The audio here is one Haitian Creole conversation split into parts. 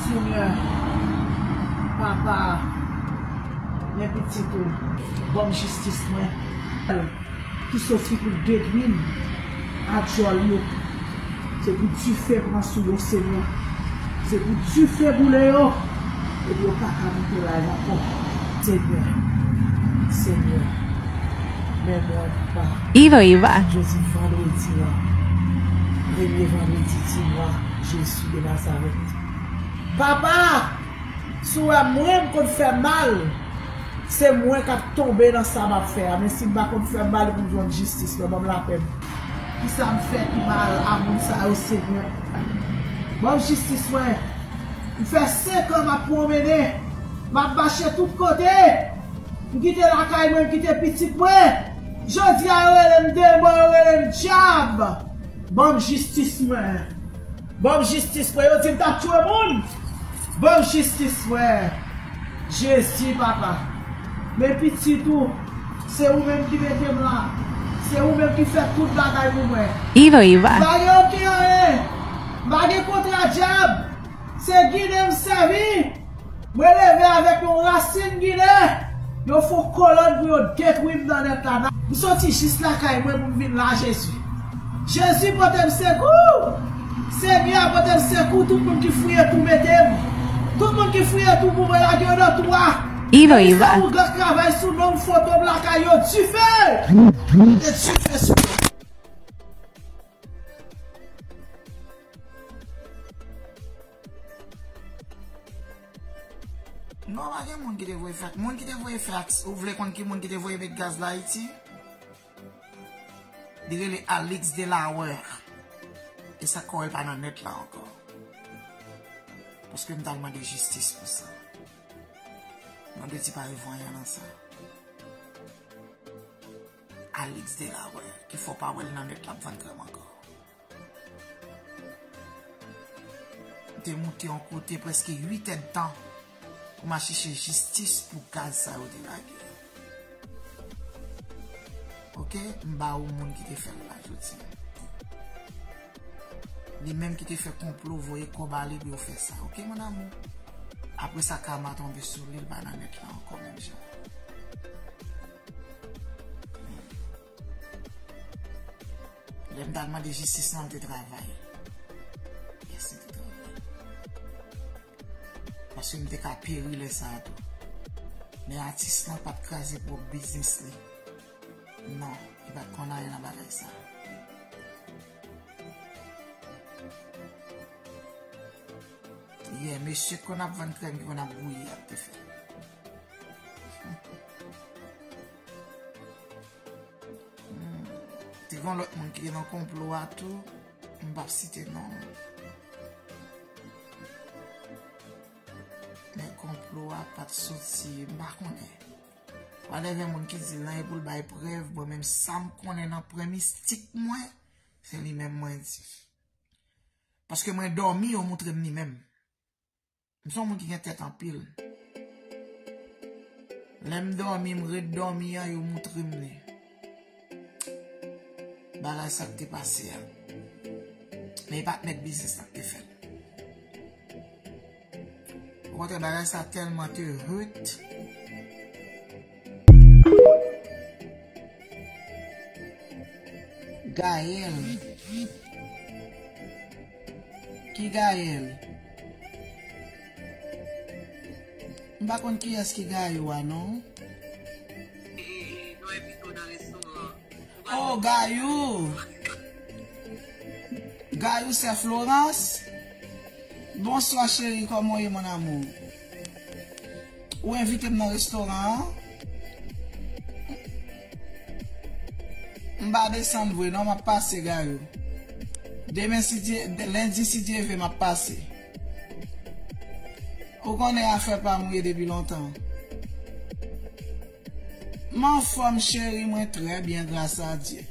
Senyè papa men pitit ou banm jistis mwen ki sòti pou detwim. a djòl yo se pou dife pran sou yo senyè se pou dife boule yo epi yo paka moute live ankò senyè senyè men mwen pa nan jodi vandredi an premye vandredi di mwa jezi de nazarèt papa si w wè mwen m konn fè mal. Se mwen kap tonbe nan sa map fè a men sim pa konn fè mal poum jwenn jistis mwen banm lapèm. Kisam fè ki mal a moun sa yo segnè banm jistis mwen m fè 5 an map pwonmennen map mache tout kote m kite lakay mwen m kite pitit mwen jodia yo relem demon yo relem dyab banm jistis mwen. Banm jistis mwen yo dim tap tchwe moun banm jistis mwen jezi papa men pitit ou se ou menm ki metem la se ou menm ki fè tout bagay pou mwen mpa gen oken anyen mpa gen kontra djab se ginen msèvi. Mwen leve avèk yon rasin ginen, yo fon kolòn pou yo detwi m nan nèt la. M soti jis lakay mwen pou m vin la Jezi. Jezi pote m sekou! Senyè a pote m sekou tout moun ki fouye tou mete m. Tout moun ki fouye tou pou mwen lage yo nan tou a. Epi sa ougan travay sou non m foto m lakay yo dife! Mete dife sou yo. Non pa gen moun ki te voye fax. Moun ki te voye fax ou vle konn ki moun ki te voye met gaz la ayiti? Li rele Alix Delaware. E sak kore l pa nan net la anko. Paske m tal mande jistis pou sa. Mwen de ti pare vanyan nan sa. Alix Delaware. Ki fo pa wel nan net la ap vann krem anko. Mwen te moute yon kote preske 8 èd tan pou m a chèche jistis pou gaz sa yo te lage yo. Ok, m ba ou moun ki te fè l la jodi. Li menm ki te fè konplo voye kòb ale pou yo fè sa. Ok, moun amou. Apre sa kama tonbe sou li l pa nan net la ankò menm jan. Lè m t al mande jistis lan, m te travay. Yes, m te travay. Paske m te ka peri lè sa a tou. Men atis lan pa t kraze pwòp biznis li. Non, li pa t konn anyen nan bagay sa a. Yeah, mesye k konn ap vann krèm ki konn ap bouyi a, m te fè. Te kon lòt moun ki te nan konplo a tou, m pap site non. Men konplo a pat soti, m pa konnen. Wa de gen moun ki di lan e pou l bay prev, bon men sa m konnen nan premis tik mwen, se li men mwen di. Paske mwen dòmi yo moutre m li men. M son moun ki gen tèt anpil. Lè m dòmi, m ret dòmi an, yo moutre m li. Bagay sa k te pase a. Men e pa t mèt biznis la k te fè l. Okontrè bagay sa tèlman te hurt. Gaël. Ki Gaël? M pa konn kiyès ki Gayou a non. Oh Gayou. Gayou sè Florence? Bonswa cheri kòman w ye mon amour? Ou envite m nan restoran an. M pa desann vre non, m ap pase Gayou. Demen si Dye, lendi si Dye ve m ap pase. Ou konnen afè pa m ou ye depi lontan. M anfòm cheri mwen trè byen gras a Dye.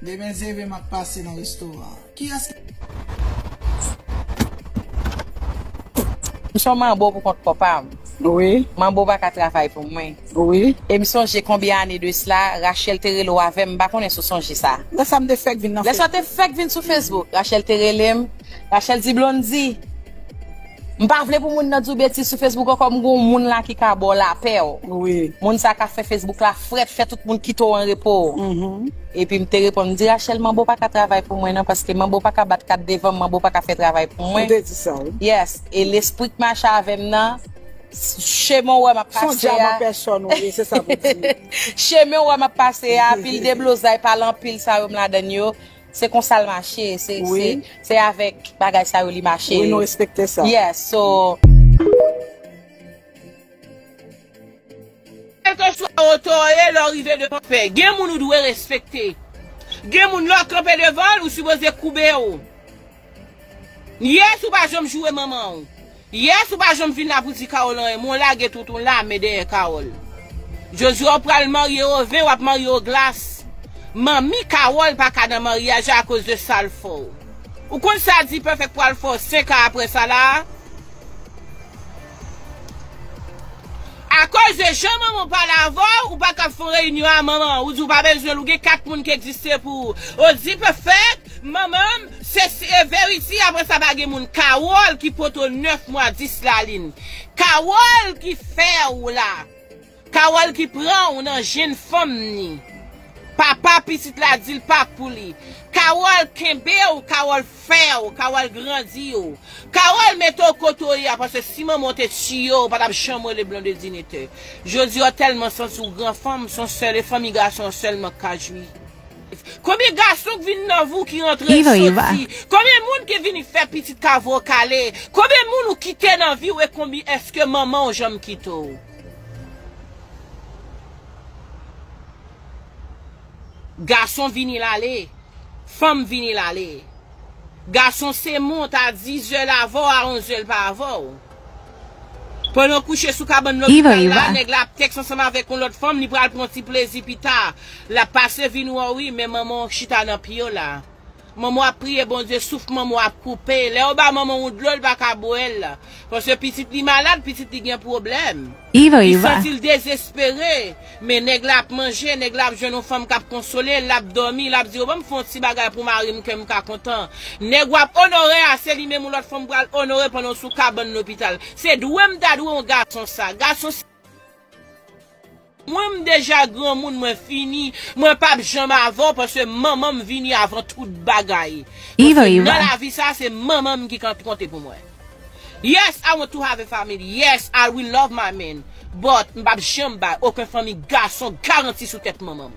Demen zeve m ap pase nan restoran an. Kiyès ki. M son manbo pou kont pòpa m. Manbo pa ka travay pou mwen. E m sonje konbyen ane de sla Rachel te rele w avè m m pa konnen si w sonje sa. Lè sa m te fèk vin nan Facebook. Lè sa te fèk vin sou Facebook. Rachel te rele m. Rachel di Blondy. M pa vle pou moun nan di w betiz sou Facebook ankò m gen yon moun la ki ka ba w lapè w. Moun sa ka fè Facebook la frèt, fè tout moun kite w an repo w. Epi m te reponn, m di Rachel manbo pa ka travay pou mwen nan paske manbo pa ka bat kat devan m, manbo pa ka fè travay pou mwen. Ou te di sa wi. Yes, e lespri k mache avè m nan, chemen w wè m ap pase a. Son djab an pèsòn ou ye, se sa pou di. Chemen w wè m ap pase a, pil deblozay, pale anpil sa yo m ladann yo, Se konsa l mache, se avèk bagay sa yo li mache. Wi nou respekte sa. Yes, so. Kèlkeswa otè w ye lè w rive devan fè, gen moun ou dwe respekte. Gen moun lè w kanpe devan l, ou sipoze koube w. Yes ou pa janm joure manman w. Yes ou pa janm vin la pou di Carole anyen men w lage tout on lame dèyè Carole. Jodi w pral marye yo vin wap marye yo glas. Manmi Carole pa ka nan maryaj la akoz de sa l fè w. Ou konn sa D-Perfect pral fè w 5 an aprè sa la a? Akoz de jan manman w pale avè w ou pa kab fè on reyinyon a manman w ou di w pa bezwen l ou gen 4 moun ki egziste pou ou. Oh D-Perfect! Manmanm se verity apre sa pa gen moun carole ki poto 9 mwa 10 lalin carole ki fèw la carole ki pranw nan jenn fanm ni papa pitit la dil pa pou li carole kenbew carole fèw carole grandiw carole metew kote w ye a paske si manman w te tiye w patap janm rele blondedine te jodi a w tèlman santi w gran fanm son sèl e fanmi gason an sèlman k ka jwi. Konbyen gason k vin nan vou ki rantre l soti konbyen moun ki vini fè pitit kavo w kale konbyen moun ou kite nan vi w e konbyn eske manman w janm kite w gason vini l ale fanm vini l ale gason se mont a dizè l avè w a onze l pa avè w. Pandan kouche sou kabann lopital la, nèg la ap tèks ansanm avèk yon lòt fanm, li pral pran ti plezi pita. Lap pase vin wè w wi, men manman w chita nan pye w la. Manman w ap priye Bondye, souf manman w ap koupe. Lè yo ba manman w dlo, li pa ka bwè l. Paske pitit li malad, pitit li gen pwoblèm. Li santi l dezespere, men nèg la ap manje, nèg la ap jwenn yon fanm k ap konsole l, l ap dòmi, l ap di yo ban m fè yon ti bagay pou mari m kè m ka kontan. Nèg w ap onore a, se li menm yon lòt fanm pral onore pandan w sou kabann lopital. Se dwe m ta dwe yon gason sa. Gason se mwen, m deja granmoun, mwen fini, mwen p ap janm avè w paske manman m vini avan tout bagay. Paske nan lavi sa a, se manman m ki konte pou mwen. Yes I want to have a family yes I will love my man but m pap janm bay oken fanmi gason garanti sou tèt manman m.